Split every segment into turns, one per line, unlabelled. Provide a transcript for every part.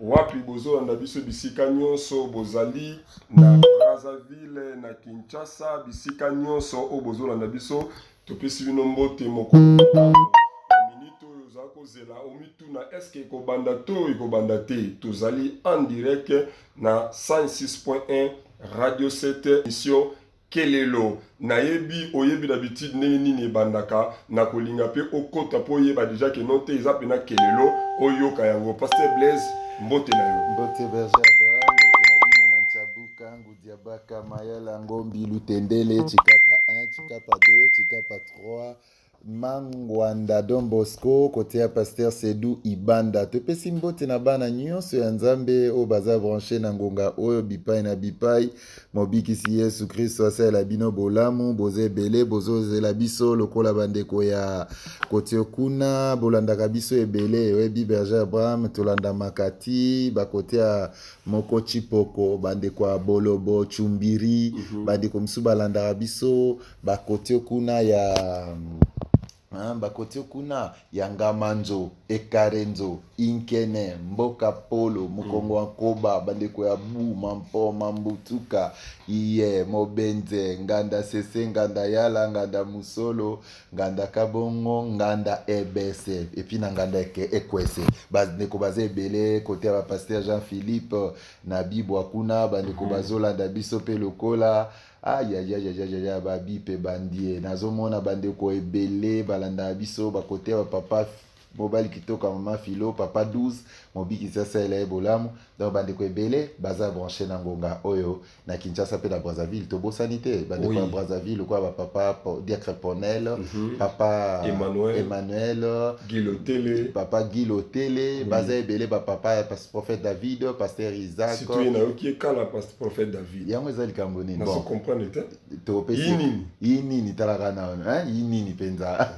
Wapi bozolanda biso bisika nyonso bozali na Brazzaville, na Kinshasa, bisika nyonso oyo bozolanda biso, topesi bino mbote mokolo minute oyo ozali kozela omituna eske ekobanda to ekobanda te tozali en direct na 106.1 radio 7 emission Kelelo, Nayebi oyebi d'habitude ndenge nini ebandaka, nakolinga pe okota po oyeba dejà que non te eza pena kelelo oyoka yango. Pasteur Blaise, mbote na yo. Mbote Berger Abraham,
mbote na bino na Ntshabu, Kangu, Diabaka, Mayala, Ngombi, Lutendele, Tshikapa 1, Tshikapa 2, Tshikapa 3, Mangwanda Don Bosco kote ya Pasteur Sedu Ibanda topesi mbote na bana nyonso ya Nzambe oyo baza branche na ngonga oyo bipai na bipai mobikisi Yesu Kristo asalela bino bolamu boza ebele bozozela biso lokola bandeko ya kotio kuna bolandaka biso ebele oyebi Berger Abraham tolandamaka ti bakote ya moko Chipoko bandeko ya Bolobo Chumbiri mhm. bandeko mosusu balandaka biso ba kote kuna ya hein, ba kote kuna ya ngamanzo ekarenzo inkene mboka polo mokongo wa nkoba bandeko ya bu mampo mambutuka iye mobenze nganda sese nganda yala nganda musolo nganda kabongo nganda ebese epuis na nganda eke ekwese bandeko baza ebele kote ya bapaster jean philippe na bibwa kuna bandeko bazolanda biso mpe lokola mm. ayayayayaya babi mpe bandie nazomona bandeko ebele balandaka biso bakote ya bapapa mobali kitoko ya mama filo papa 12 mobikisi asalela ye bolamu donc bandeko ebele baza branche na ngonga oyo na kinshasa mpe na brazzaville tobosani te bandeko ya Oui. brazzaville lokola bapapa Po- diacre ponel Mhm. papa Emmanuel. emmanuel gilotele papa guy lotele Oui. baza ebele bapapa ya pas- prophète david pasteur isaac situye nayoki ye kala
prophète david yango eza likambo nini
bon comprendre te
topesi
yi nini talaka na wana hein yi nini penza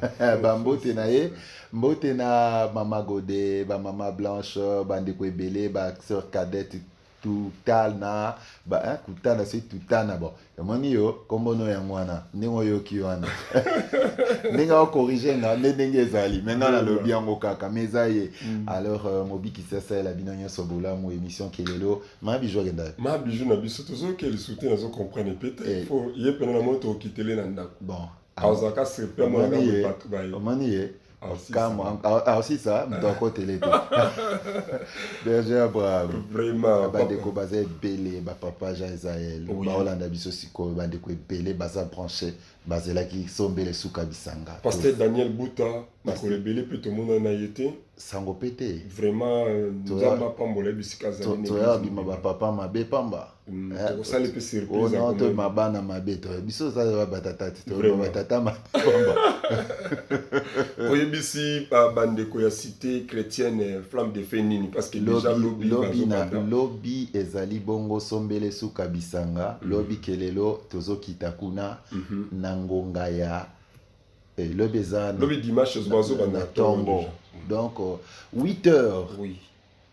ba mbote na ye mbote na mama gode ba mama blanche ba ndeko ebele ba sœur cadette tutana ba hein kutana c'est tutana bon omoni yo kombo no yango wana ndenge oyoki wana ndenge okorige nga nde ndenge ezali maintenant nalobi yango kaka mais eza ye mm. alors euh, mobikisi asalela bino nyonso bolamu émission kelelo ma bijou akenda ye ma bijou na biso
tozoyoka lisusu te nazo comprendre mpe te eh. fo ye mpena na moi tokitele na ndako bon azalaka
sepe
amonaka boye bato baye omoni ye
aosisa moto akotele te berger abraham bandeko
baza
ebele bapapa jean israel baolanda biso sikoyo bandeko ebele baza branche bazelaki sombele suka bisanga paster daniel buta
makolo ebele mpe tomonana na ye te sango mpe te
vraiment euh,
nzambe apambola ye bisika azalitoya bima bapapa
mabe pamba mm, eh, tokosala mpe
surpriseoyema oh, bana
mabe to biso tozala batata te toyeba batata mabe pamba oyebisi bandeko ya cité
chrétienne euh, flamme de fe nini parce que déjà lobi lobi
ezali bongo sombele suka bisanga mm. lobi kelelo tozokita kuna mhm. na ngonga ya Et eh, lobi eza lobi dimanche
ozo ba na tongo.
Donc 8 euh, heures. Oui.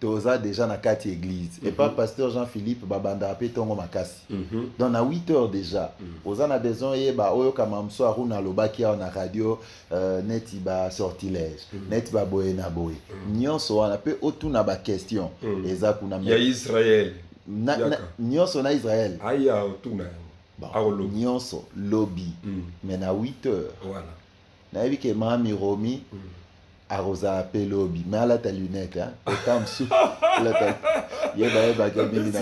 toza
déjà
na kati église mm -hmm. epa pasteur jean philippe babandaka mpe ntongo makasi mm -hmm. donc na 8 heures déjà mm -hmm. oza na besoin oyeba oyoka mamso aruna alobaki awa na radio euh, neti basortilège mm -hmm. neti baboye na boye mm -hmm. nyonso wana mpe otuna baquestion mm -hmm. eza kuna ya israel
na, na,
nyonso na israel aya otuna
Bon, nyonso
lobi mm. mais na 8 heures voilà.
nayebi ke
mami romi mm. akozala mpe lobi mais alata lunette ota mosusu yeba yebaka mingi
na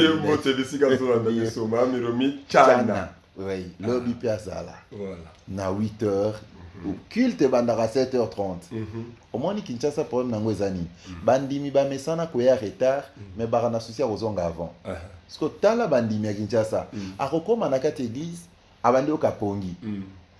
chana oui lobi
mpe azala na
8
heures mhm. culte ebandaka 7 heures 30 mhm. omoni kinshasa problème nango eza nini mm. bandimi bamesana koya retard mm. mais baka na susi ya kozonga avant uh-huh. siko tala bandimi ya kinshasa mm. akokóma na kati église abandi oka pongi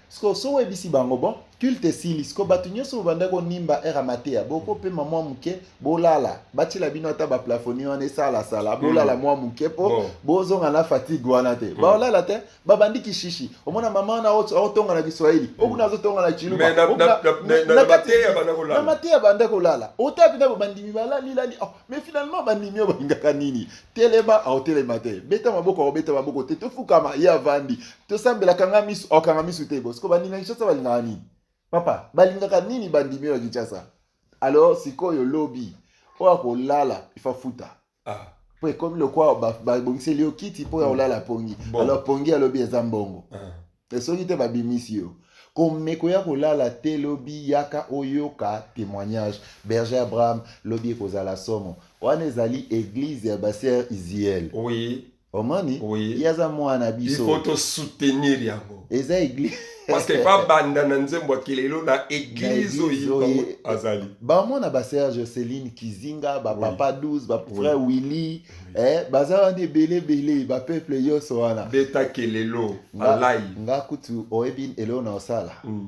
siko so oyebisi bango bon culte esili siko bato nyonso bobanda konimba ere mateya bokopema mwa moke bolala batyela bino ata baplafoni wana esalasala bolala mwa moke mpo bozonga na fatigue wana te baolala te babandi kishishi omona mama wana aotonga na kiswahili hmm. okuna azotonga na chilubanamateya mateya banda kolala ota mpenza bandimi balalilali oh, mais finalement bandimi oyo balingaka nini telema aotelema te beta maboko aobeta maboko te tofukama ye avandi tosambela kanga misu aokanga misu te bo siko baninga kinshasa balingaka nini papa balingaka nini bandimi oyo ya kinshasa alors sikoyo lobi oyo akolala ifafuta ah. po ekomi lokola babongiseli yo kiti mpo ya kolala mm. pongi alors pongi alobi eza mbongo ah. soki te babimisi yo komeko ya kolala te lobi yaka oyoka témoignage berger abraham lobi ekozala somo wana ezali eglise ya basere isiel oui. omoni oui. ye aza mwana na biso il faut tosoutenir
yango eza eglise
parce que babanda
na nzembo ya kelelo na eglise oyo azali bamona basere
joceline kizinga bapapa oui. 12 bafrère oui. willy oui. eh, baza wana ebele ebele bapeuple nyonso wana beta kelelo
alai nga kutu
oyebi eloo na osala mm.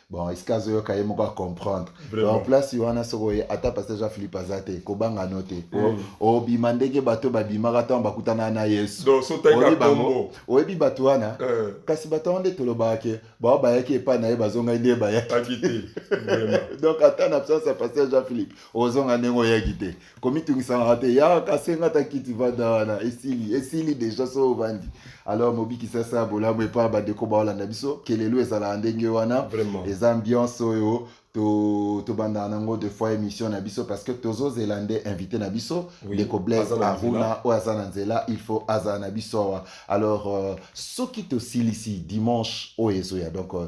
bon esika azoyoka ye moko acomprendre donc place wana soki oye ata pasteur jean philippe aza te kobanga no te mm. obima ndenge bato babimaka ntango bakutanaka na yesu
oyebi bato wana
eh. kasi bato wana nde tolobaka ke bao bayaki epai na ye bazongai nde bayaki donc ata na absence ya pasteur jean philippe ozonga ndenge oyaki te komitungisaka te yaka senga ata kiti vanda wana esili esili deja so ovandi alors mobikisi asala bolamu epa bandeko baolanda biso kelelo ezalaka ndenge wana eza ambiance oyo tobandaka to nango de fois émission na biso parce que tozozela nde invité na biso ndeko oui, blaise aruna oyo aza na nzela il faut azala na biso awa alors euh, soki tosilisi dimanche oyo ezoya donc euh,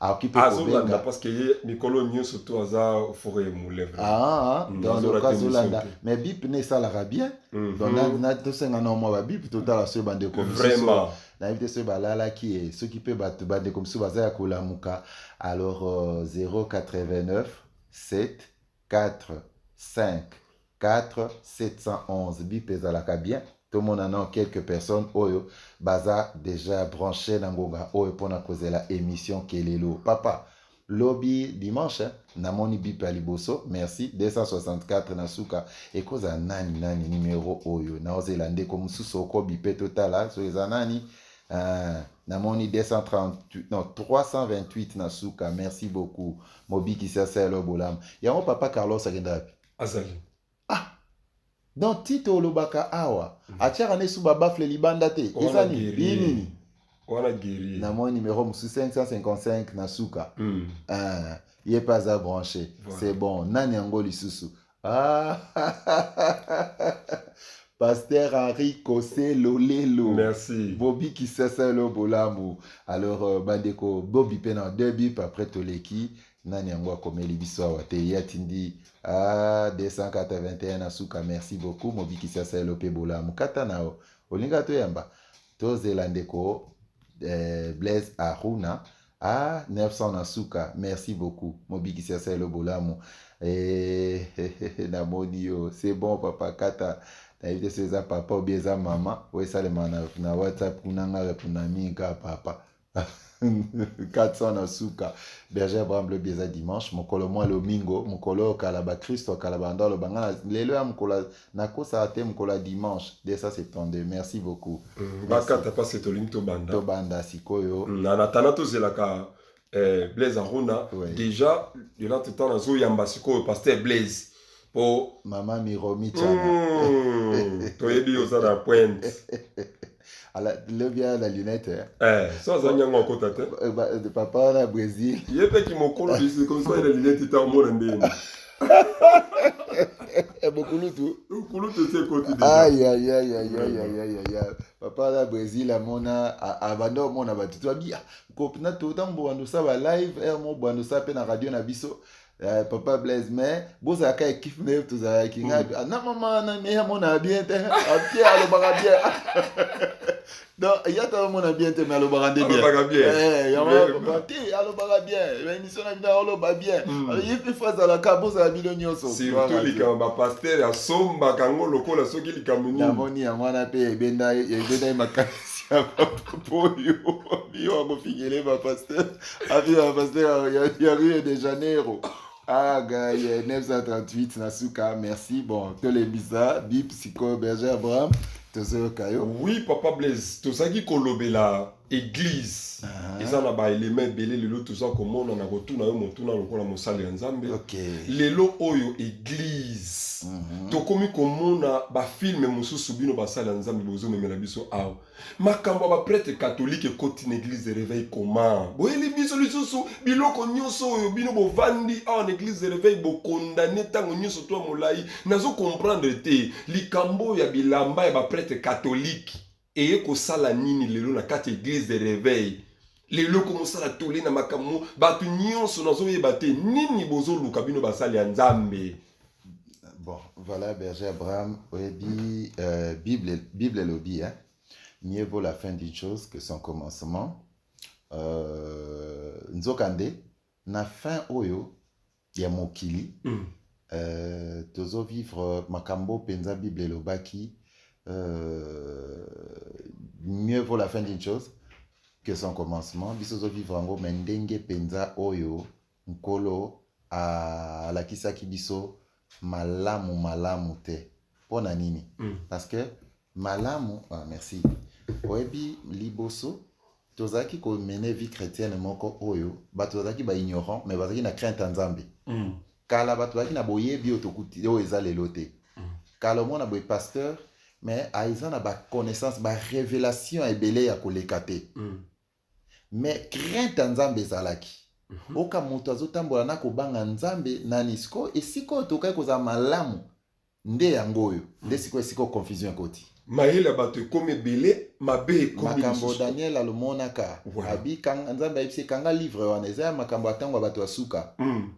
akoki mpe azolanda parce que
ye mikolo nyonso to aza fore mule ah, mm,
donc azolanda mais bip ne esalaka bien mhm. donc tosenga na mwa babip totala soki bandeko mosusu nayebi
te soki
balalaki ye soki mpe bato bandeko mosusu baza ya kolamuka alors 089 7 4 5 4711 bip ezalaka bien tomona nao quelques personnes oyo baza deja branche na ngonga oyo mpona kozela emission kelelo papa lobi dimanche namoni bip ya liboso merci 264 na suka ekozala nani nani numero oyo naozela ndeko mosusu okobipe totala so eza nani Uh, namoni 238 non 328 na suka merci beaucoup mobikisi asala bolamu yango papa carlos akenda wapi azali
ah
donc tito olobaka awa mm. atiaka na esu babafle libanda te eza nini wana
guerrier na mwa numéro mosusu 555
na suka mm. uh, ye mpe aza branche voilà. c'est bon nani yango lisusu ah. Pasteur Henri Kosé Lolelo. Merci. Bobby
Kisasalo
Bolamu. Alors, euh, Bandeko, Bobby Pena, deux bips après Toleki. nani yango akomeli biso awa te ye atindi a 281 na suka merci beaucoup mobikisi asalelo mpe bolamu kata na yo olinga toyamba tozela ndeko eh, blaise aruna a 900 na suka merci beaucoup mobikisi asalelo bolamu eh, eh, eh, namoni yo c'est bon papa kata nayebi te so eza papa obi eza mama oyo esalema na, na whatsapp kuna nga reponami kaka papa 400 na suka berger abraham lobi eza dimanche mokolo mwa lomingo mokolo oyo kala bakristo ya kala banda oloba nga na- lelo ya mokolo nakosaka te mokolo ya dimanche 272 merci beaucoup Mm, bakata pasi
tolingi tobanda tobanda sikoyo
Mm, na natana tozelaka
eh, blaise aruna Ouais. déjà de notre temps nazoyamba sikoyo pasteur blaise po mama miromi
tsana mm, toyebi
oza na pointe
ala lobi aya na lunette eh, eh so azangi
yango akota te eh, eh, papa wana brésil ye mpe kimokolo bisekonso na lunette ta omona ndenge
bokulutu kulutu esi
ekoti
papa wana brésil amona abanda omona bato toabi ah, kopina totango bobanda osala balive r mo banda osala mpe na radio na biso Uh, papa blaise mais bozalaka ekipe nde tozalaki nga mm. na mama na meya mona bien te apie alobaka bien donc ya ta mona bien te mais alobaka nde bienpapa te alobaka bien baémission na bino aloba bien ye mpe fo azalaka bozala bino nyonso surtout likambo
bapaster asombaka yango lokola soki likambo nini namoni yango wana mpe
ebenda ye makanisi ya papa oyo yo akofingele bapaster Api ya pasteur ya, ya Rio de Janeiro. Ah, gars, 938 na suka. Merci. Bon, tolembisa bi psycho Berger Abraham. Tozoyoka yo. Oui, papa Blaise,
tozaki kolobela église. Uh -huh. Eza na ba éléments ebele lelo toza komona na kotuna yo motuna lokola mosali ya Nzambe. Okay. Lelo
oyo
église. Uh -huh. Tokomi komona ba films mosusu bino basali ya Nzambe bozomemela biso awa. makambo ya bapretre katolike ekoti na eglise de reveil koma boyeli biso lisusu biloko nyonso oyo bino bovandi awa na eglise de reveil bokondane ntango nyonso to ya molai nazo comprendre te likambo oyo ya bilamba ya bapretre katolike eye kosala nini lelo na kati ya eglise de reveil lelo komosala tole na makambo bato nyonso nazoyeba te nini bozoluka bino basali ya nzambe bon
voilà berger abraham oyebi euh, bible, bible elobi hein? mieux vaut la fin d'une chose que son commencement euh, nzokande na fin oyo ya mokili mm. euh, tozo vivre makambo mpenza bible elobaki euh, mieux vaut la fin d'une chose que son commencement biso tozo vivre yango me ndenge mpenza oyo nkolo alakisaki biso malamu malamu te mpo na nini mm. parce que Malamu, ah, merci. Oyebi liboso tozalaki ko mener vie chrétienne moko oyo bato bazalaki ba ignorant mais bazalaki na crainte ya Nzambe. Mm. Kala bato bazalaki na boyebi oyo tokuti oyo eza lelo te. Mm. Kala omona boye pasteur mais aza na ba connaissance ba révélation ebele ya koleka te. Mm. Mais crainte ya Nzambe ezalaki. Mm -hmm. Oka moto azotambola na kobanga Nzambe nani siko esiko tokaki kozala malamu. nde yango oyo nde sikoyo esiko confusion ekoti mayele ya bato ekomi
ebele mabe ekomi makambo lisusu. daniel
alomonaka Voilà. abi kanga- nzambe ayebisi ye, kanga livre wana eza ya makambo ya ntango ya bato ya suka Mm,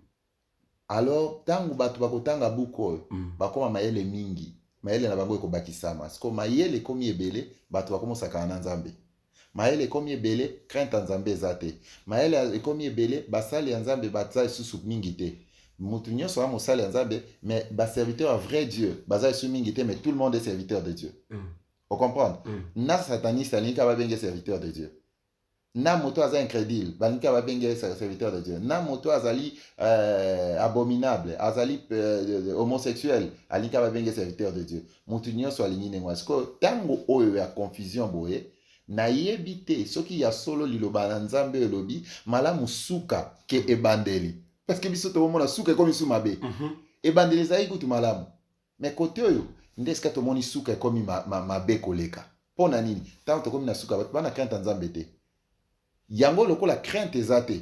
alors ntango bato bakotanga buku oyo mm. bakoma mayele mingi mayele na bango ekobakisama siko mayele ekomi ebele bato bakomosakana na nzambe Mayele ekomi ebele, crainte ya Nzambe eza te. Mayele ekomi ebele, basali ya Nzambe baza lisusu mingi te. Mutu nyonso a mosali ya Nzambe, mais ba serviteur ya vrai Dieu baza lisusu mingi te, mais tout le monde est serviteur de Dieu. Mm. O comprendre? Mm. Na sataniste alingi ka babenge serviteur de Dieu. Na moto aza incrédule, balingi ka babenge serviteur de Dieu. Na moto azali euh, abominable, azali euh, homosexuel, alingi ka babenge serviteur de Dieu. moto nyonso alingi ndenge wana sikoyo ntango oyo ya confusion boye nayebi te soki ya solo liloba na nzambe oyo elobi malamu suka ke ebandeli parce que biso tokomona suka ekomi su mabe mm -hmm. ebandeli ezalaki kutu malamu me kote oyo nde esika tomoni suka ekomi ma, ma, mabe koleka mpo na nini ntango tokomi na suka bato bana krente ya nzambe te yango lokola krente eza te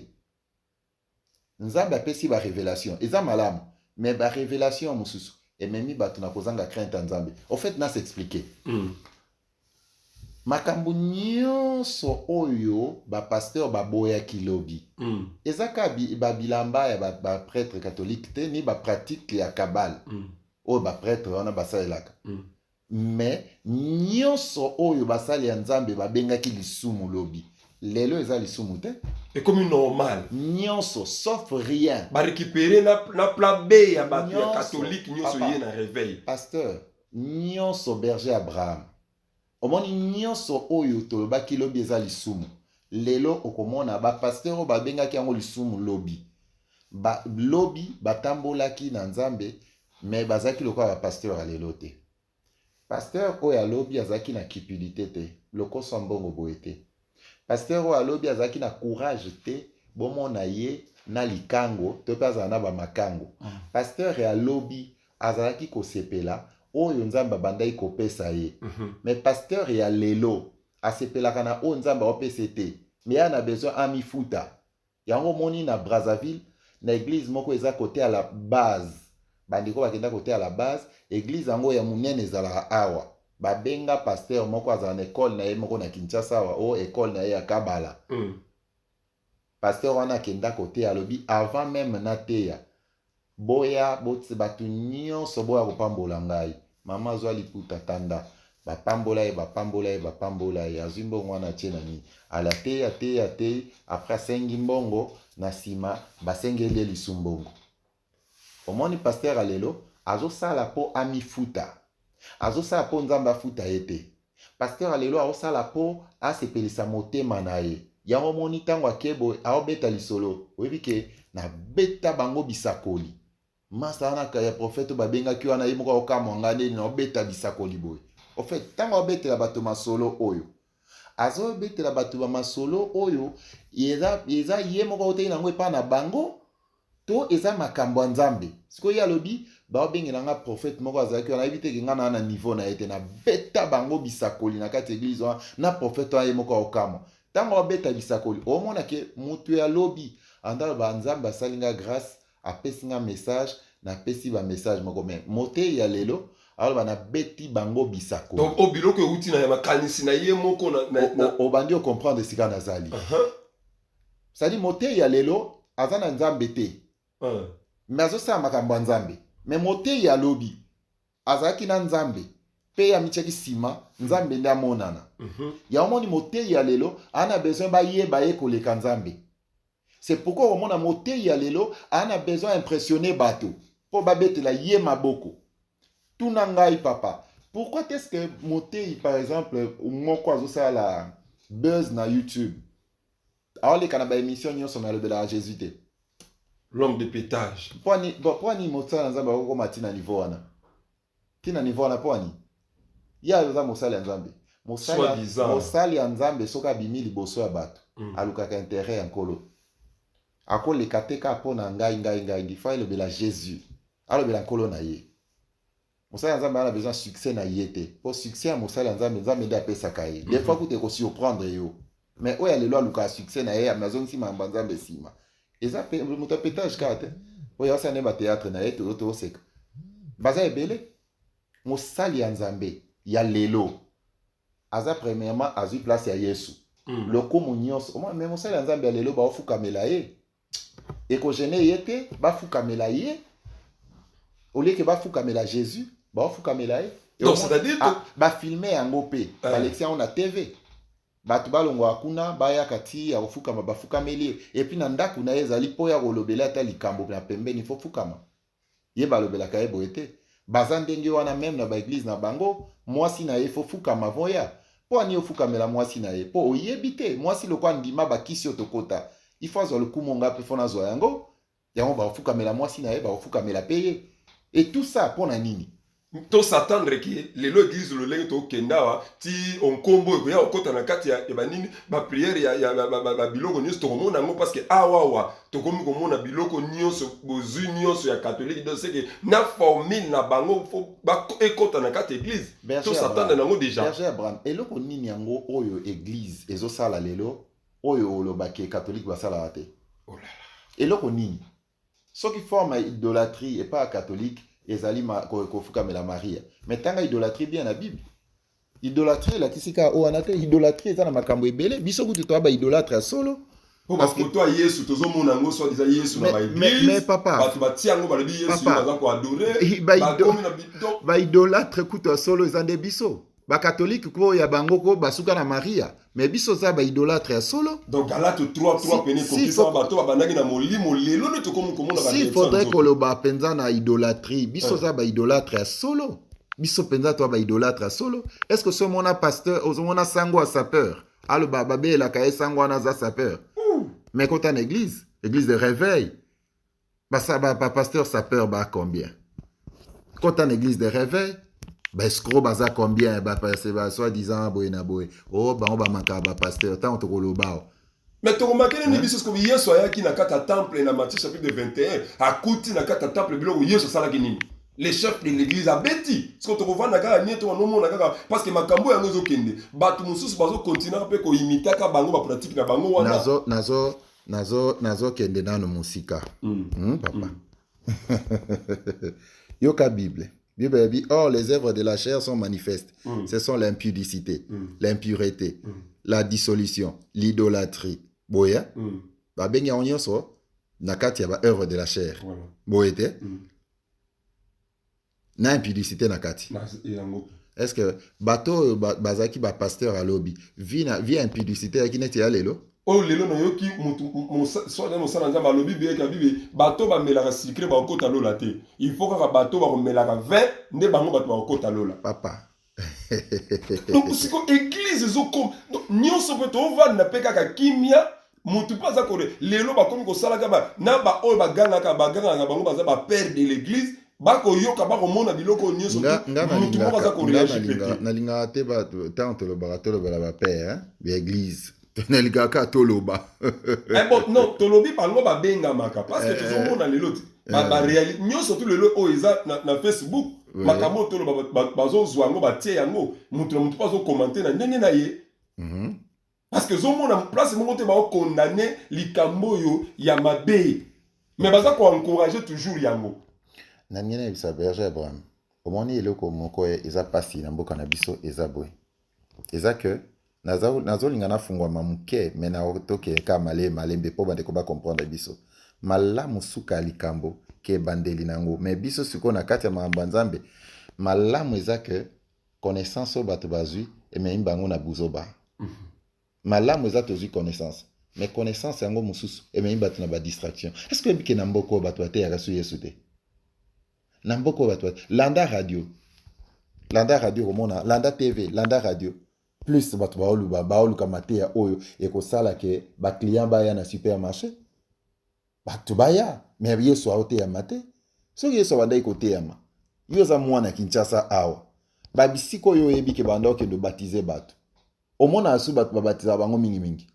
Nzambe apesi ba revelation eza malamu mais ba revelation mususu ememi batu na kozanga crainte ya Nzambe. Au fait na s'expliquer. Mm. Makambo nyonso oyo ba pasteur baboyaki lobi mm. eza ka ba bilamba ya ba, ba prêtre catholique te ni ba pratique ya cabale mm. oyo ba prêtre wana basalelaka mm. Mais nionso oyo basali ya Nzambe babengaki lisumu lobi lelo eza lisumu te. Ekomi normal.
Nionso sauf
rien. Ba récupérer na
na plan B ya batu ya catholique nionso ye na réveil. Pasteur,
nionso berger Abraham. Omoni nionso oyo tolobaki lobi eza lisumu. Lelo okomona ba pasteur oyo babengaki yango lisumu lobi. Ba lobi batambolaki na Nzambe mais bazalaki lokola ba pasteur ya lelo te pasteur oyo ya lobi azalaki na cupidité te lokoso ya mbongo boye te pasteur oyo alobi azalaki na courage te bomona ye na likango to mpe azala na bamakango mm. pasteur ya lobi azalaki kosepela oyo nzambe abandaki kopesa ye mm -hmm. me pasteur ya lelo asepelaka na oyo nzambe aopesa te me ya na besoin amifuta Yango omoni na Brazzaville na eglise moko eza kote ya la base bandeko bakenda kote ya la base eglise yango ya monene ezalaka awa babenga pasteur moko azala na ekole na ye moko na Kinshasa awa o ekole na ye ya Kabala mm. pasteur wana akenda koteya alobi avant meme nateya Boya bots batu nionso boya kopambola ngai maman zwa liputa tanda ba pambola ye ba pambola ye ba pambola ye azwi mbongo wana atie na nini ale ateyi ateyi ateyi après asengi mbongo na sima basengeli ye lisu mbongo omoni pasteur ya lelo azosala po amifuta azosala po nzambe afuta ye te Pasteur ya lelo aosala po asepelisa motema na ye. Yango omoni tango ake boye aobeta lisolo oyebi ke na beta bango bisakoli. Masta wana ya prophète oyo babengaki wana ye moko aokamwa nga nde na obeta bisakoli boye. Au fait tango aobetela bato masolo oyo azobetela bato ba masolo oyo eza ye moko autaki na yango epa na bango To eza makambo ya Nzambe. Sikoyo ye alobi baobengela nga prophète moko azalaki wana ayebi te ke nga na na niveau na ye te na beta bango bisakoli na kati eglise wana na prophète wana ye moko aokamwa tango abeta bisakoli omona ke mutu ya lobi andalo ba Nzambe asali nga grace apesi nga message na pesi ba message moko me moteyi ya lelo aloba na beti bango bisakoli donc o biloko ewuti
na ya makanisi na ye moko na obandi o
comprendre esika na zali uh -huh. sadi moteyi ya lelo aza na nzambe te uh. me azosala makambo ya nzambe me moteyi ya lobi azalaki na nzambe mpe ye amityaki nsima mm. nzambe nde amonana mm -hmm. ya omoni moteyi ya lelo aa na besoin bayeba ye koleka nzambe c'est pourquoi omona moteyi ya lelo aa na besoin ya impressionne bato mpo babetela ye maboko tuna ngai papa pourquoi est-ce que moteyi par exemple moko azosala buzz na youtube aoleka na ba emission nyonso me alobelaka jesus te l'homme de
pétage mpo ani
mosala na nzambe akokoma ti na niveau wana ti na niveau wana mpo ani ye aza mosali ya nzambe mosali ya nzambe soki abimi liboso ya bato mm. alukaka intérêt ya nkolo akoleka te kaka mpo na ngai ngai ngai ngi fo elobela jésus alobela nkolo na ye mosali ya nzambe ana besoin succès na ye te mpo succès ya mosali ya nzambe nzambe nde apesaka ye des fois kuta ekosurprendre yo mais oyo ya lelo alukaka succès na ye azongisi makambo ya nzambe nsima eza moto ya petage kaka te oyo asala nde bateatre na ye toyo toseka baza ebele mosali ya nzambe ya lelo aza premièrement azwi place ya yesu mm. lokumu nyonso me mosali ya nzambe ya lelo baofukamela ye ekogene ye te bafukamela ye olieke bafukamela jésus baofukamela ye donc c'est-à-dire ah,
bafilme yango
mpe eh. balekisi yango na tv bato balongwaka kuna bayaka ti ya kofukama bafukameli ye epuis na ndako na ye ezali mpo ya kolobela ata likambo ya pembeni fofukama ye balobelaka ye boye te baza ndenge wana meme na baeglize na bango mwasi na ye fo fukama voya mpo ani ofukamela mwasi na ye mpo oyebi te mwasi loko andima bakisi oyo tokota ifo azwa lokumu ngai mpe fo nazwa yango yango bakofukamela mwasi na ye bakofukamela mpe ye etusa mpo na nini to s'attendre
ke lelo eglise lolenge tokenda awa ti onkombo ekoya kokota na kati ya banini bapriere ya babiloko nyonso tokomona yango parce que awawa tokomi komona biloko nyonso bozwi nyonso ya katolike donc seke na formule na bango fo ekota na kati ya eglise to s'attendre nango déjà abraham eloko
nini yango oyo eglise ezosala lelo oyo olobaki katolike basalaka te oh eloko nini Soki forme ya idolatrie epai ya katolike ezali kofukamela Maria, me tanga idolatrie bien na Bible. Idolatrie elakisi kaka oyo wana te, idolatrie eza na makambo ebele. Biso kutu toya ba idolatre ya solo mpo bafoto ya
yesu tozomona yango soit eza yesu na baeglise bato batia
yango balobi
yesu baza koadore bakomi na baidolatre
kutu ya solo eza nde biso bakatolike ko ya bango ko basuka na maria me biso za baidolatre ya solo donc galate 33
pene kokisa bato babandaki na molimo lelo nde tokomi komona si faudrait koloba
mpenza na idolatrie biso eh. za baidolatre ya solo biso mpenza to baidolatre ya solo est ce que so omona pasteur ozomona sango ya sapeur aloba babelelaka ye sango wana aza sapeur me kota na église église de réveil ba pasteur sapeur ba combien kota na église de réveil ba escro baza combien ba soit disant boye na boye o oh, bango bamaka ba pasteur ntango tokolobao oh. mais tokomaki
nini biso sikoyo yesu ayaki na kati ya temple na matthieu chapitre 21 akuti na kati ya temple biloko yesu asalaki nini le chef de l'église abeti sikoyo tokovanda kaka nie tokanomona kaka parce que makambo yango ezokende bato mosusu bazokontinua mpe koimitaka bango bapratike na bango wana nazo
nazokende
nanu mosika mm. Hmm, papa
mm. yoka bible bible elobi or les œuvres de la chair sont manifestes mm. ce sont l'impudicité mm. l'impureté mm. la dissolution l'idolâtrie boye mm. babengi yango nyonso na kati ya baœuvre de la chair voilà. boye te mm. na impudicité na kati est ce que bato oyo bazalaki bapasteur ya lobi vie ya impudicité yaki neti ya lelo oyo lelo nayoki
soki mosala nzambe alobi biyeke bibi bato bamelaka sikre bakokota lola te il faut kaka bato bakomelaka 20 nde bango bato bakokota lola papa donc siko eglise ezokoma nyonso mpe tovanda mpe kaka kimia motu mpe aza kole lelo bakomi kosalaka ba, na baoyo bagangaka bagangaka bango baza bapere de l'église bakoyoka bakomona biloko oyo nyonso motu moko aza koreagir nalingaka te
ntango tolobaka tolobela bapere ya eglise nalingaka kaka toloba eh, bon, non
tolobi bango babengamaka parce que eh, tozomona eh. lelo barealité nyonso tu lelo oyo eza na, na facebook makambo oyo toloba bazozwa yango batie yango moto na moto mpo azokomante na ndenge na ye mhm. parce que ezomona place moko te baokondane likambo oyo ya mabe mais baza koencourage toujours yango na ndenge
nayebisa berger abraham omoni eloko moko eza mpasi na mboka na biso eza boye eza ke nazolinga nafungwama moke me na tokeye ka malee malembe mpo bandeko bacomprendre biso malamu suka ya likambo ke ebandeli na yango me biso sikoyo na kati ya makambo ya nzambe malamu eza ke connaissance oyo bato bazwi ememi bango na buzoba mhm. malamu eza tozwi connaissance me connaissance yango mosusu ememi bato na badistraction est ce que oyebike na mboka oyo bato bateyaka so yesu te na mboka oyo bato landa radio landa radio komona landa tv landa radio plus bato baoluba baoluka mateya oyo ekosala ke baclient baya na supermarché bato baya me yesu aoteyama te soki yesu abandaki koteyama yo oza mwana kinshasa awa babisika oyo oyebi ke banda okende obatize bato omonaka su bato babatizaka bango mingimingi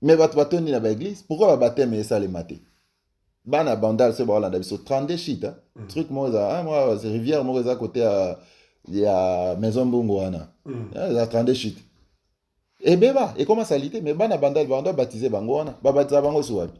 me bato batondi na baeglise pourkui babateme esalema te bana bandal soki bakolanda biso 32 shit hein? mm. truc moko eza ah, rivière moko eza kote ya, ya maison mbongo wana mm. eh, eza 32 shit ebeba ekoma salite me bana bandal bando babatize bango wana babatisa bango su wapi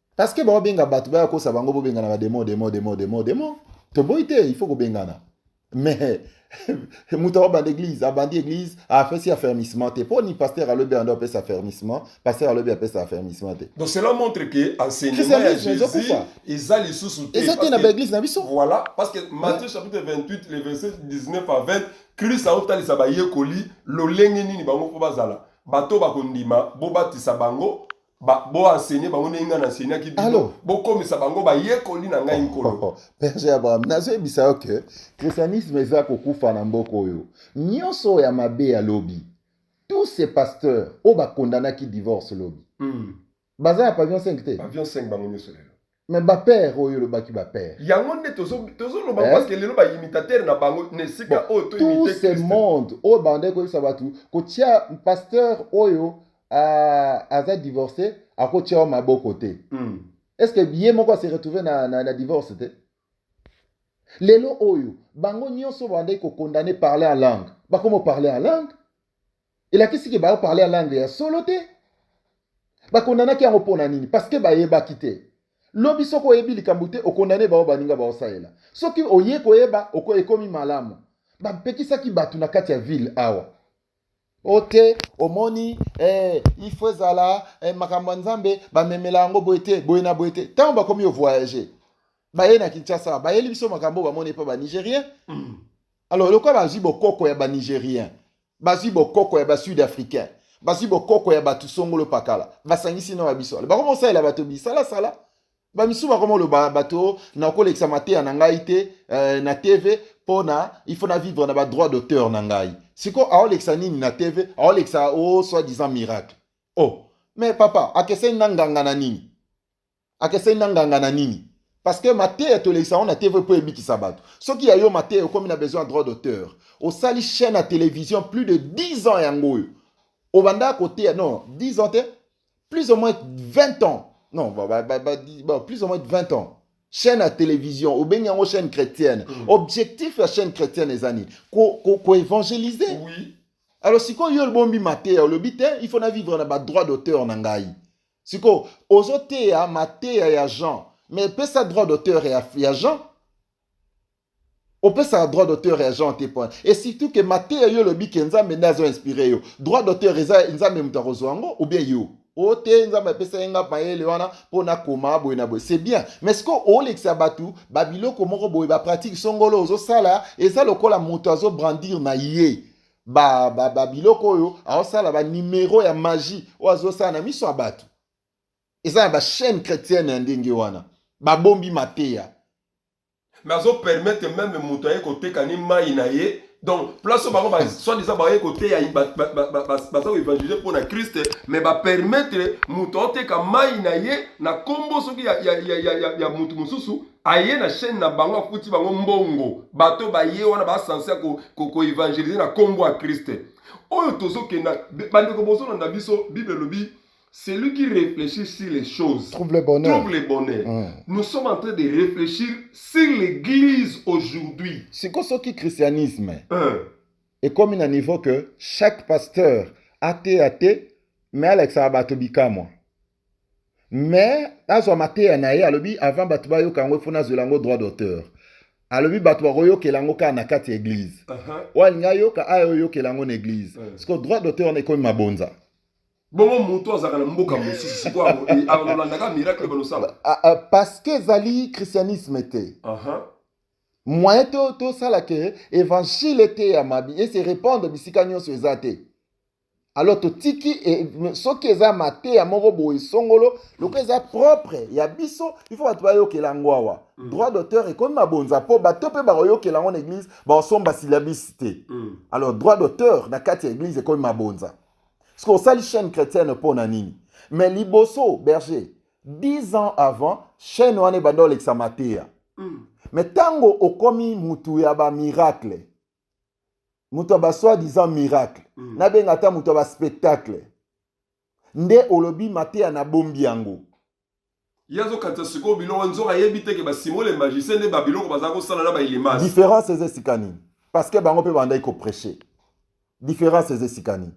Parce que bao benga batu baya kosa bango bo bengana ba demo demo demo demo demo. Toboyi te il faut ko bengana. Mais moto akobanda église abandi église afesi affermissement te mpo ni pasteur alobi ando apesa affermissement pasteur alobi apesa affermissement te donc cela montre que
enseignement ya jésus eza lisusu te eza te na baeglise na biso
voilà parce que matthieu
chapitre 28 le verset 19 à 20 kristo aotalisa bayekoli lolenge nini bango mpo bazala bato bakondima bobatisa bango Ba, bo enseigner bango ndenge ngai na enseignaki bino Alors. bokomisa bango bayekoli na ngai nkolo berger abraham
nazoyebisa yo ke christianisme eza kokufa na mboka oyo nyonso oyo ya mabe ya lobi tous ces pasteurs oyo bakondanaki divorce lobi Mm. baza na pavillon 5 te Pavillon 5 bango nyonso lelo
Mais ba père
oyo olobaki ba père. Yango nde tozo
tozo loba eh? parce que lelo ba imitateur na bango ne sika bon, oyo to imiter Christ. Tout ce monde
oyo bande ko yisa batu ko tia pasteur oyo uh, aza divorcé ako tia maboko te. Mm. Est-ce que ye moko se retrouver na, na, na divorce te? Lelo oyo bango nyonso bande ko condamner parler en langue. Bakomo parler en langue. elakisi ke bao parle ya langue ya solo te bakondanaki yango mpo na nini parceke bayebaki te lobi soki oyebi likambo te okondane bao baninga baosalela soki oye koyeba oko ekomi malamu bapekisaki bato na kati ya ville awa ote omoni eh, ifo ezala eh, makambo ya nzambe bamemela yango boye te boye na boye te ntango bakomi ovoyage baye na kinshasa bayeli biso makambo bamoni epa banigérien mm. alors lokola bazwi bokoko ya banigérien Bazwi bokoko ya ba sud africain, bazwi bokoko ya bato songolo pakala, basangisi na babiso wale bakoma osalela bato bisalasala bamisusu bakoma oloba bato nakolekisa mateya na ngai te eh, na tv mpo na il faut na vivre na badroit d'auteur na ngai siko aolekisa nini na tv aolekisa o oh, soi disant miracle oh mais papa akeseni na nganga na nini akeseni na nganga na nini parce que mateya tolekisa yango na tv mpo ebikisa bato soki ya yo mateya okomi na besoin ya droit d'auteur osali chaîne ya télévision plus de 10 ans yango oyo obandaka koteya non 10 ans te plus ou moins 20 ans non ba, ba, ba, ba, ba, plus ou moins 20 ans chaîne ya télévision obengi yango chaîne chrétienne mm. objectif ya chaîne chrétienne eza nini koevangelize ko, ko oui.
alors sikoyo yo
olbombi mateya olobi te il faut na vivre na badroit d'auteur na ngai sikoyo ozoteya mateya ya jean mais pesa droit d'auteur ya, ya jean opesaka droit d'auteur ya jean te point et surtout ke mateya yo olobi ke nzambe nde azo inspire yo droit d'auteur eza nzambe moto akozwa yango ou bien yo o oh, te nzambe apesa ye nga mayele wana mpo nakoma boye na boye c'est bien mais sikoyo olekisa bato babiloko moko boye bapratike songolo ozosala eza lokola moto azobrandir na ye ba, ba, ba biloko oyo aosala ba numero ya magie oyo azosala na miso ya bato eza na bachaîne chrétienne ya ndenge wana babombi mateya me
azopermettre meme moto aye koteka ni mai na ye donc place oyo bango baswadisa baye koteya baza koevangelize mpo na kriste me bapermettre moto aoteka mai na ye na nkombo soki ya moto mosusu aye na chaîne na bango afuti bango mbongo bato baye wana basanse ya koevangelize ko, ko na nkombo ya kriste oyo tozokenda bandeko bozolanda biso bible elobi celui qui réfléchit sur les choses trouve le bonheur, trouve le
bonheur. Mm.
nous sommes en train de réfléchir sur l'église aujourd'hui siko soki
christianisme mm. ekomi na niveau que chaque pasteur ateya te me alakisaka bato bikamwa mais azwa mateya na ye alobi avant bato bayoka yango ifo nazwela yango droit d'auteur alobi bato bakoyokela yango kaka na kati ya eglize oyo alingi ayoka aya oyokela yango na eglize siko droit d'auteur wana ekomi mabonza bongo
moto azalaka na mboka mosusu sikoaolandaka miracle balosala ah, ah, parce que
ezali christianisme te moyen tosala ke évangile eteyama ese répandre bisika nyonso eza te alors totiki e, soki eza mateya moko boye songolo lokola eza propre ya biso il faut bato bayokela yango awa mm. droit d'auteur ekomi mabonza mpo bato mpe bakoyokela yango na église bakosomba silabisi te mm. alors droit d'auteur na kati ya église ekomi mabonza soki osali chaîne chrétienne mpo na nini mais liboso berger 10 ans avant chaîne wana ebanda olekisa mateya mm. mais ntango okomi motu ya bamiracle moto ya basoi disant miracle mm. nabenga ata moto ya baspectacle nde olobi mateya nabombi yango ye
azokatisa sikoyo biloko nzoka ayebi te ke basimo le magicien nde babiloko baza kosala na bailimas différence eza esika
nini parce que bango mpe bandaki kopreche différence eza esika nini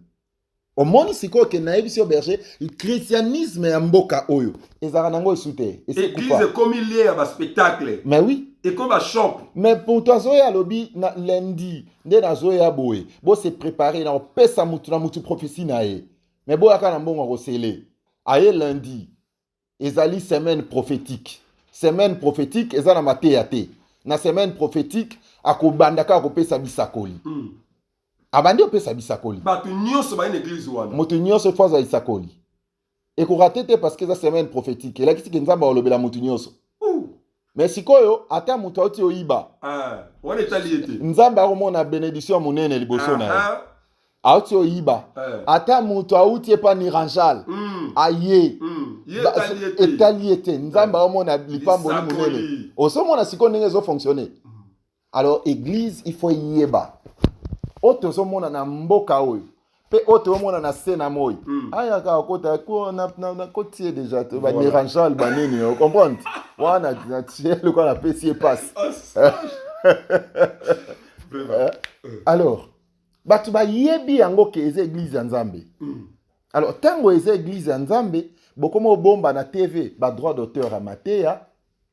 omoni sikoyo ke nayebisi yo berger christianisme ya mboka oyo ezalaka nango esu te eglise ekomi
lie ya baspectacle mais oui ekomi
bashop
mais moto azoya
alobi na lundi nde nazoya boye bose prépare na kopesa motu na motu prophesie na ye mais boyaka na mbongo ya kosele aye lundi ezali semaine prophétique semaine prophétique eza na mateya te na semaine prophétique akobanda kaka kopesa bisakoli mm. abandi opesa bisakoli bato nyonso baye na
eglise wana moto nyonso efo azwa
lisakoli ekorate te parce que eza semaine prophétique elakisi ke nzambe akolobela moto nyonso me sikoyo ata moto auti oyiba ah, wana etali
ye te nzambe akomona
benediction ya monene liboso na ye ah, ah. auti oyiba eh. ata moto auti epa niranjal mm. aye mm. etali ye te nzambe eh. aomona lipamboli monene osomona sikoyo ndenge ezofonctionne mm. Alors eglise il faut eyeba oyo tozomona na mboka oyo mpe oyo toomona na se na moi mm. aya kaka kota nakoti ye deja to banerangeal banini o comprendre wana natie lokola napesi ye mpasi alors bato bayebi yango ke eza eglize ya nzambe mm. alors ntango eza eglize ya nzambe bokoma obomba na tv badroit d'auteur ya mateya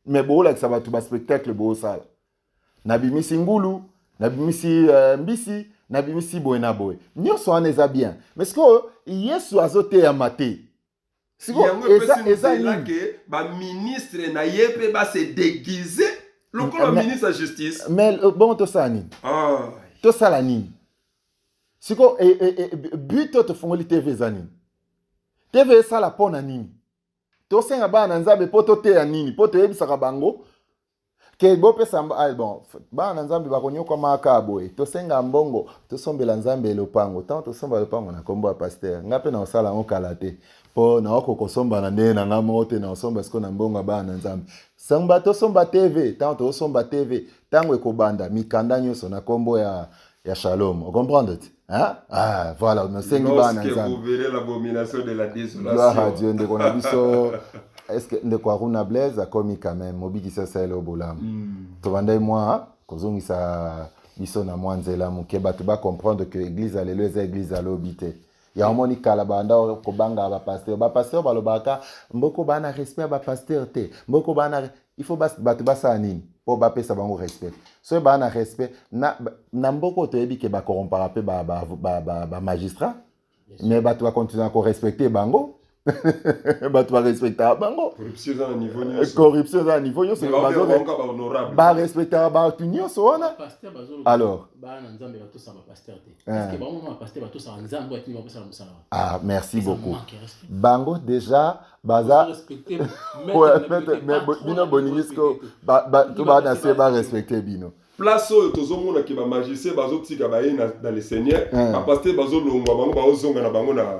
me boolakisa bato baspectacle boosala nabimisi ngulu nabimisi uh, mbisi nabimisi boye na boye nyonso wana eza bien me sikoyo yesu azoteyama te yango
epesi nzela ke baministre na ye mpe base deguise lokola ministre ya justice mais euh, bongo tosala
nini ah. tosala nini sikoyo e, e, e, but oyo tofungoli tv eza nini tv esala mpo na nini tosenga bana na nzambe mpo toteya nini mpo toyebisaka bango ke bopesa ah, bon bana na nzambe bakonyokwama aka boye tosenga mbongo tosombela nzambe lopango ntango tosomba lopango na nkombo ya paster ngai mpe naosala yango kala te mpo naoko kosomba na ndenge na ngai moko te naosomba siko na mbongo ya bana na nzambe somba tosomba tv ntango tosomba tv ntango ekobanda mikanda nyonso na nkombo ya ya shalom ocomprendre te hein? ah, voilà nasengi bana
nzambegloire a dieu ndeko na
biso estce ndeko aruna blaise akomi quand même mobikisi asaleli o bolamu mm. tobandai mwa kozongisa biso na mwa nzela moke bato bacomprendre que église ya lelo eza église ya lobi te ya omoni kala banda kobanga ba pasteur ba pasteur balobaka mboko bana respect ya ba pasteur te mboko bana il faut bato basala nini mpo bapesa bango respect soki baa na respect na, na mboka oyo toyebi ke bakorrompaka mpe bamagistrat ba, ba, ba, ba mais bato bakontinua korespecte bango bato barespectaka bango
corruption eza na niveau nyonso
barespectaka bato nyonso wana alors ah merci beaucoup bango déjà baza bino bolingi siko to baa na se barespecte bino place oyo tozomona
ke bamagicien bazotika baye na le seigneur bapaster bazolongwa bango baozonga na bango na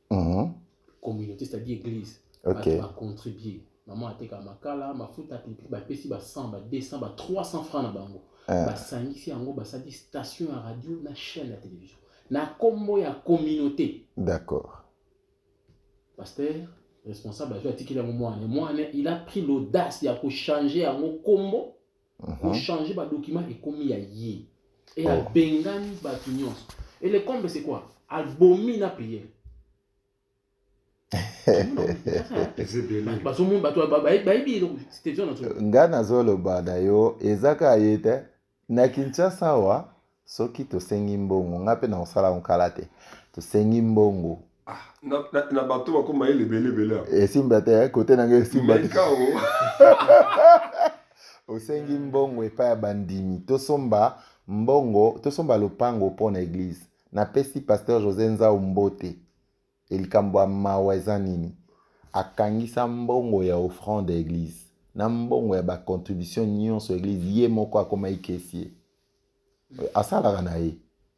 Mhm. communauté c'est-à-dire église Ok. bato bacontribue mama ateka makala mafuta pipi bapesi ba 100 ba 200 ba 300 francs na bango Eh. basangisi yango basali station ya radio na chaîne ya télévision na nkombo ya communauté D'accord. pasteur responsable azwi atikeli yango mwana mwana il a pris l'audace ya kochange yango nkombo ko mhm. changer ba documents ekomi ya ye et oh. abengani bato nyonso et le comble c'est quoi abomi na prière
nga nazoloba na yo eza kaka ye te na kinshasa wa soki tosengi mbongo ngai mpe nakosala yango kala te tosengi mbongo ah, na, na, na
bato bakoma ye lebelebele esimba te eh,
kote na ngai esimba te osengi mbongo epai ya bandimi tosomba mbongo tosomba lopango mpo na eglize napesi paster josé nzau mbote elikambo ya mawa eza nini akangisa mbongo ya offrande ya eglize na mbongo ya bacontribution nyonso ya eglize ye moko akomaki kesi ye asalaka na ye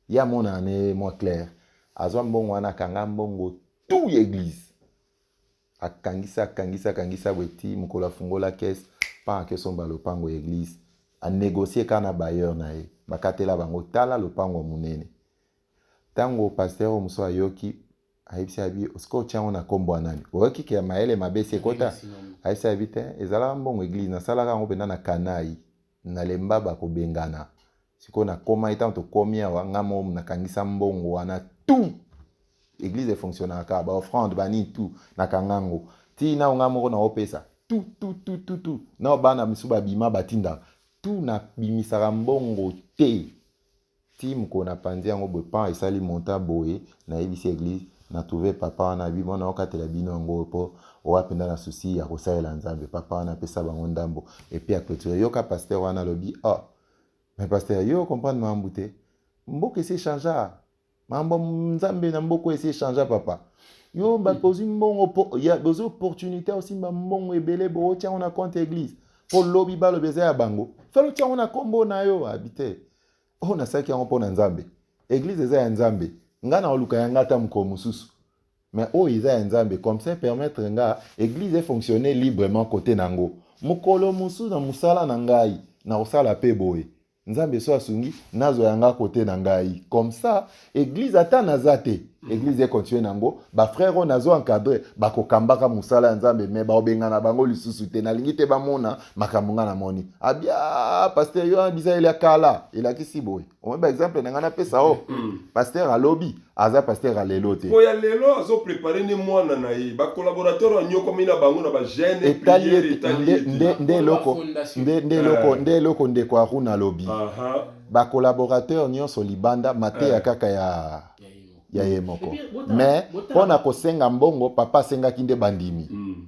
ye amonana na ye mwa claire azwa mbongo wana akanga mbongo tout ya eglise akangisa akangisa akangisa bweti mokolo afungola kese mpanga kesomba lopango ya eglise anegocie kaka na bailleur na ye bakatela bango tala lopango monene ntango pasteur oyo mosusu ayoki ayebisi abi osika otya yango na nkombo ya nani oyoki ke mayele mabe si ekota ayebisi abi te ezalaka mbongo eglise nasalaka yango mpenza na kanai na lemba bakobengana sikoyo nakomaki ntango tokomi awa ngai moko nakangisa mbongo wana tout eglise efonctionnaka kaka baoffrande banini tout nakanga yango tii nao ngai moko naopesa tout tout tout tout tout nao bana misu babima batindaka tout nabimisaka mbongo te Tii mokolo na panzi yango boye pan esali montant boye na yebisi eglise na trouve papa wana bi mwana okatela bino yango po oa penda na souci ya kosalela nzambe papa wana apesa bango ndambo epi a clotire yoka pasteur wana alobi oh mais pasteur yo comprendre mambu te mboka esi echangea mambo nzambe na mboko esi echangea papa yo bato ozwi mbongo bozwi opportunité osimba mbongo ebele bootya yango na compte église mpo lobi balobi eza ya bango fale otya yango na nkombo na yo abi te oyo oh, nasalaki yango mpo na nzambe église eza ya nzambe ngai naoluka ya ngai ata mokolo mosusu mais oyo oh, eza ya nzambe comme ça permettre nga église efonctionne librement kote na yango mokolo mosusu na mosala na ngai nakosala mpe boye Nzambe so asungi nazwa yanga kote na ngai comme ça église ata naza te église e continue nango ba frère oyo nazo encadrer bakokambaka mosala ya Nzambe mais baobengana bango lisusu te nalingi te bamona makambo ngai namoni abia pasteur yo bisa ele ya kala elakisi boye omoi ba exemple na ngai napesa o pasteur alobi aza pasteur ya lelo te po ya lelo azo prepare
nde mwana na ye bacolaborateur banyokwami na bango na bagene etali nde
eloko nde eloko ndeko aruna alobi bacolaborateur nyonso libanda mateya eh. kaka ya ya ye moko mais mpo na kosenga mbongo papa asengaki nde bandimi mm.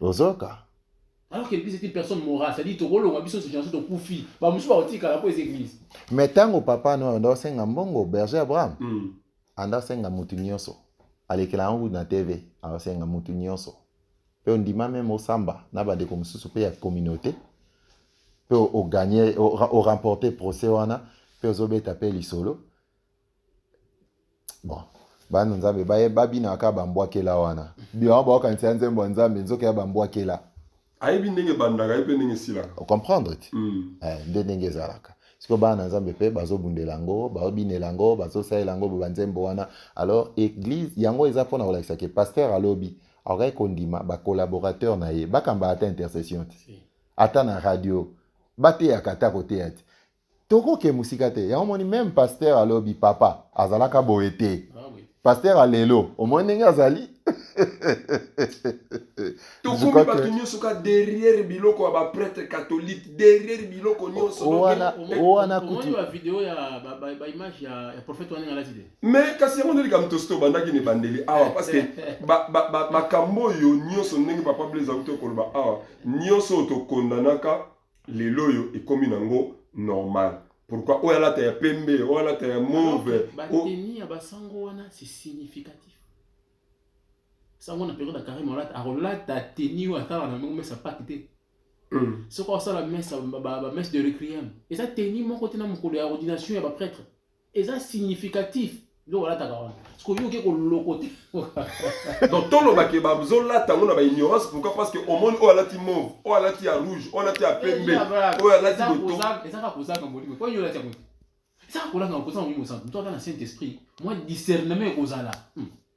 ozoka
alors que
l'église est une personne morale c'est-à-dire tokolonga biso nyonso nyonso tokufi bamosusu bakotikala mpo eza église mais ntango papa
no anda osenga mbongo berger abraham mm. anda osenga motu nyonso alekela yango na tv aosenga motu nyonso mpe ondima meme osamba na bandeko mosusu mpe ya communauté mpe oganye oremporte procès wana mpe ozobeta mpe lisolo bon bana nzambe babinaka bambwakela wana biwa baokanisa ya nzembo ya nzambe nzoka ya bambwakela ayebi ndenge
ebandaka ayebi mpe ndenge esilaka ocomprendre ti
mm. eh, nde ndenge ezalaka siko bana na nzambe mpe bazobundela yango babinela yango bazosalela yango banzembo wana alors église yango eza mpona kolakisa ke paster alobi akokaki kondima bacolaborateur na ye bakamba ata intercession te ata na radio bateyaka ata koteya te tokoke mosika te yango omoni meme pasteur ya lobi papa azalaka boye te ah pasteur ya lelo omoni ndenge azali
tokomi bato nyonso ka derrière biloko ya baprêtre catholique derrière biloko
nyonsomais
kasi yango nde likambo
tosi tobandaki na ebandeli awa eh, parce que eh, eh. makambo oyo nyonso ndenge papa blaise auti okoloba awa nyonso oyo tokondanaka lelo oyo ekomi nango normal pourquoi oyo alata ya pembe oyo alata ya move bateni ya basango
wana c'est significatif sango na periode ya carime olata akolata teni oyo atala na ndongo mesa paki te hmm. soki osala mesa bamesse de requiem eza teni moko te na mokolo ya ordination ya baprêtre eza significatif donc olataka wana sikoyo oke kolokote donc
toloba ke bazolata yango na baignorance pourquoi parce que omoni oyo alati mauve oyo alati ya rouge oyo alati ya pembe oyo alati botoezaka kozanga molimo
po yolati yango ezaka kolanga kozanga molimo santu moto aza na saint esprit mwa discernement ekozala hmm.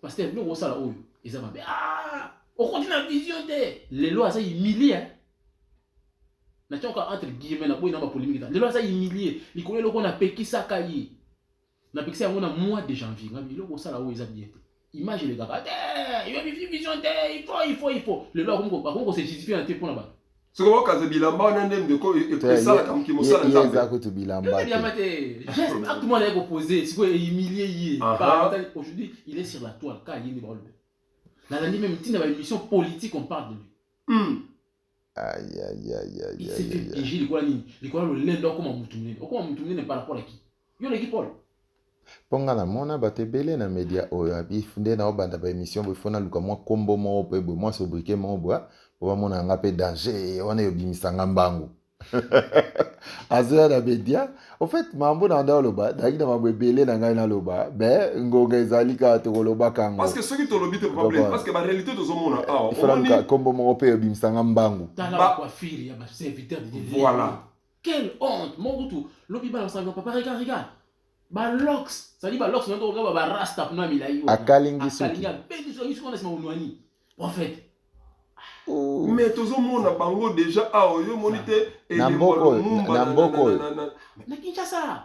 Pasteur, biloko osala oyo eza mabe. Ah, okoti na vision te. Lelo aza humilié. Hein? Na tioka entre guillemets na boyi na ba polemique ta. Lelo aza humilié. Likolo eloko na pekisaka ye. Na pekisa yango na mois de janvier. Nga biloko osala oyo eza bien te. Image elekaka te. Yo vision te. Il faut, il faut, il faut. Lelo akomi ko akomi ko se justifier na te pona ba. soki okaza
bilamba wana nde ndeko esalaka moki mosala nzambeeza kutu bilamba
te
acte mwana ye kopose sikoyo ehumilie ye aujourd'hui il est sur la toile ka ye nde baolobe nalandi meme ntina ba émission politique on parle de lui hmm.
aïe
likola nini likola lolendo okoma motu monene okoma motu monene par rapport à qui Yo leki Paul. Mpo nga
namona bato ebele na media oyo abi nde naobanda ba emission boye fo naluka mwa kombo moko mpe boye mwa sobrike moko boye mpo bamona yanga mpe danger wana eyobimisa nga mbangu azoya na media au fait mambo na nda oloba nayaki na mambo ebele na ngai naloba me ngonga ezali kaka tokolobaka yango parce que soki tolobi te
problème parce que ba réalité tozomona awa kombo moko
mpe eyobimisa nga mbangu
voilà Quelle
honte
Mon kutu lobi bana sango papa regarde regarde ba locks ça dit ba locks ndio kaka ba rasta kuna milayi akalingi soki akalingi
abendi soki soki na
sima unwani prophète oh.
mais tozomona bango déjà awa ah, yo omoni te na mboko na
mboko
na kinshasa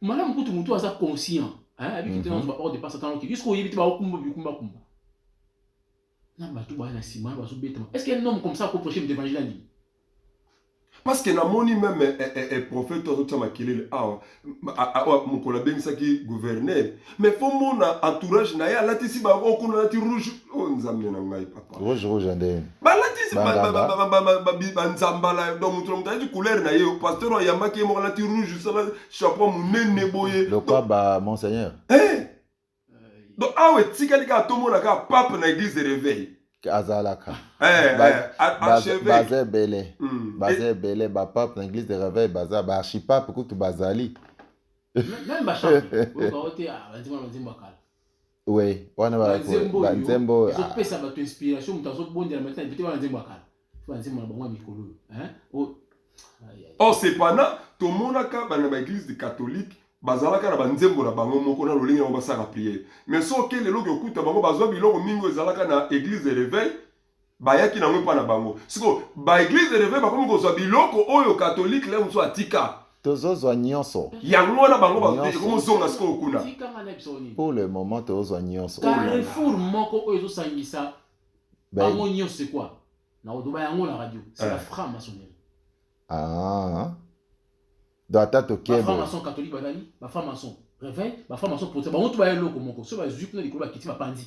malamu kutu motu aza conscient ayebiki te nazo baor depense atano ki jusqu'à oyebi te baokumba bikumbakumba na bato baya na nsima bazobetama est ce que un homme comme ça akoproche moto évangile ya nini
parce que namoni meme eh, eh, eh, prophète oyo azotia makelele awa ah, ah, ah, mokolo abengisaki gouverneur mais faut mona entourage na ye alatisi bango oh, kuna alati rouge oyo oh, nzambe na ngai papa rouge rouge nde
balatisi
banzambala donc moto na moto alati couleur na ye oh, pasteur ayambaki ye moko alati rouge sala chapeau monene boye lokwa ba monseigneur
eh!
donc awa etikali kaka tomona kaka pape na église de réveil azalaka
eh,
eh, baza ebele
hmm. baza ebele bapape na église de réveil baza baarchipape kutu bazali Même
ba chante. Oyo ba ote ah ba nzembo na nzembo ya kala. Oui,
wana ba nzembo. Ba nzembo. Ils ont pesa ba
inspiration mutu azo bondela maintenant peut-être wana nzembo ya kala. Ba nzembo na bango mikolo. Hein? Oh. Oh
cependant, tomonaka bana ba église de catholique bazalaka na banzembo na bango moko na lolenge yango basalaka priere mais soki lelo okokuta bango bazwa biloko mingi oyo ezalaka na église de réveil bayaki nango epa na bango siko ba eglise de reve bakomi kozwa biloko oyo katolike leo mosusu atika tozozwa nyonso
yango wana bango
bakomozonga sikoyo kuna pour le
moment tozozwa nyonso carrefour moko
oyo ezosangisa ben. bango nyonso ekwa na odoba yango na radio c'est la eh. franc maçonnerie ah
donc ata tokebo ba franc
catholique bazali ba franc maçon réveil ba franc maçon protestant bango to baya eloko moko so bazwi kuna likolo bakiti bapanzi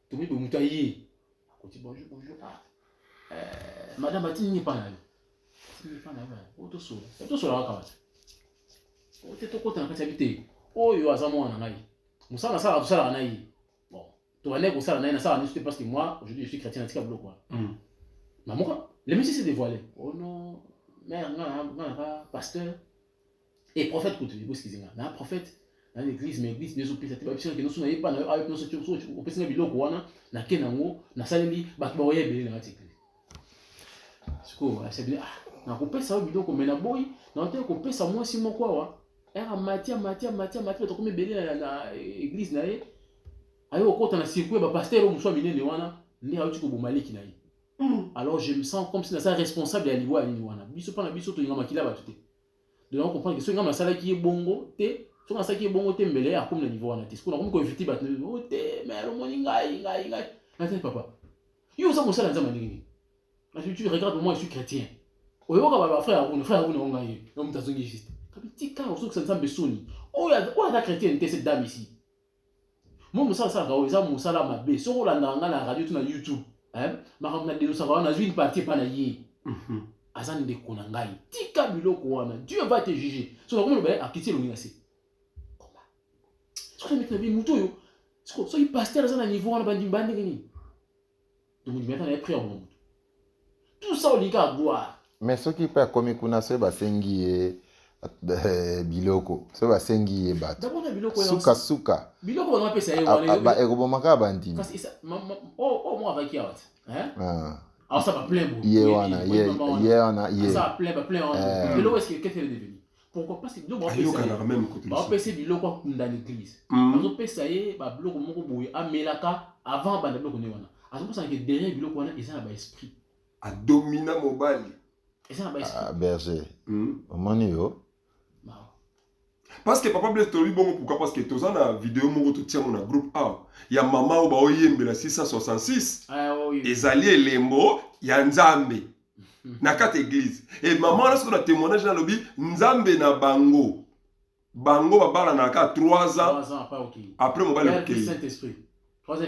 tomi bo muta ye akoti bonjour bonjour ah euh, madame ati nini pa na yo ati nini pa na yo o to solo o to solo kaka wata o te to kota na kati ya biteko oyo aza mwana ngai musala sala to sala na ye bon to bande ko sala na ye na sala nisu te parce que moi aujourd'hui je suis chrétien na tika biloko wana hmm. mamoka le monsieur s'est dévoilé oh non mère nga nga nga pasteur Et prophète kutu eko excuse nga. Na prophète na l'église mais église bezo pesa te ba biso kino suna yepa na yo ayo pesa tu so tu opesa nga biloko wana na ke na ngo na saleli ba ba oye bele na tikli. Siko a sabili ah na ko pesa yo biloko mais na boy na ote ko pesa moi si moko awa. Era matia matia matia matia to komi bele na, na église na ye. Ayo okota na circuit ba pasteur o muswa minene wana nde ayo tiko bomaliki na ye. Mm. Alors je me sens comme si na sa responsable ya liwa ni wana. Biso pa na biso to yinga makila ba tuté. de na comprendre que soki ngai nasalaki ye bongo te soki nasalaki ye bongo te mbele akomi na niveau wana te sikoyo nakomi koinvite bato o oh, te mere omoni ngai ngai ngai natali papa yo oza mosala nzambe ndenge nini nati tu regarde moi je suis chrétien oyoka bato bafrère aruna frère aruna onga ye yo moto azongi juste kabitika ozokisa nzambe soni oyo oh, aza oh, chrétienne te cette dame ici Moi mosala asalaka oyo eza mosala mabe. Soki olandaka ngai na radio to na YouTube, eh, makambo na denosaka wana nazwi une partie epai na ye. Mhm. Aza ndeko na ngai. Tika biloko wana. Dieu va te juger. Soki akomi loba akiti elongi na se. Koma. Soki amiti na bi moto oyo soki pasteur aza na niveau wana bandimi bandenge nini? tomindimi ata naye prix ya koma moto tout ça olingi kaka gloire mais soki mpe akomi
kuna soki basengi ye eh, biloko soki basengi ye bato suka
suka ekoboma kaka
bandimi
oh, oh, ah. ye wana
ye wana ye
pourquoi pas c'est donc ayokanaka même côté ba pèse biloko akunda l'église hmm. bazo pesa ye ba biloko moko boye amelaka avant banda biloko ne wana azo pesa que derrière biloko wana eza na ba esprit a domina
mobali eza na ba esprit
ah berger hmm.
omoni yo
parce que papa blaise tolobi bongo pourquoi parce que toza na video moko totiamo na groupe a ya mama oyo baoyembela 666 ah,
ezali elembo
ya nzambe na kati eglise e mama wana soki na témoignage nalobi nzambe na bango bango babalanaka kaka 3 ans
après mobali akei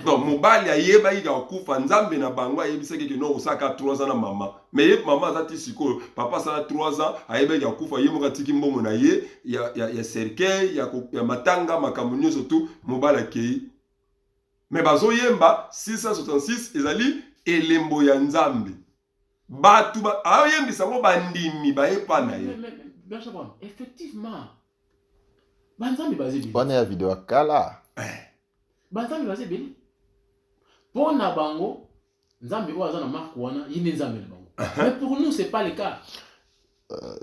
donc
mobali ayebaki kaka kufa nzambe na bango ayebisaki ke non osalaka 3 ans na mama mais ye mama aza ti sikoyo papa asala 3 ans ayebaki kaka kufa ye moko atiki mbongo na ye ya, ya, ya cercueil ya, ya matanga makambo nyonso tu mobali akei Mais bazo yemba 666 ezali elembo ya Nzambe. Batu ba ayembisa ngo bandimi baye pa na ye.
Effectivement. Banzambe baze bini. Bana ya video kala.
Eh.
Banzambe baze bini. Pona bango Nzambe oyo aza na marque wana ye nde Nzambe na bango. Mais pour nous c'est pas le cas. Euh,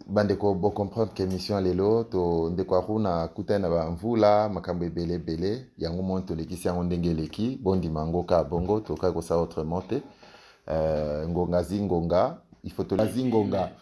bandeko bo comprendre que émission lelo to ndeko akuna akutani na bamvula makambo ebele ebele yango moni tolekisi yango ndenge eleki bondima yango kaka bongo tokaki kosala autrement te euh, ngonga zi ngonga il faut tolazi ngonga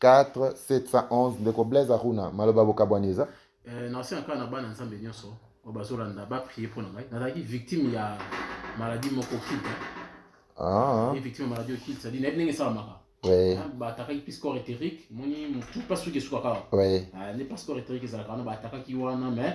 4711 ndeko blaise aruna maloba bokabwani eza eh, naosenga kaka
na bana nzambe nyonso oyo bazolanda baprie mpo na ngai nazalaki victime ya maladi moko kida ah. victime ya maladi okid sadi nayebi ndenge esalamaka ah, baatakaki
mpe score
éthérique moni motu mpasi soki esukaka ah, nde mpa score
éthérique
ezalaka wana baatakaki wana mais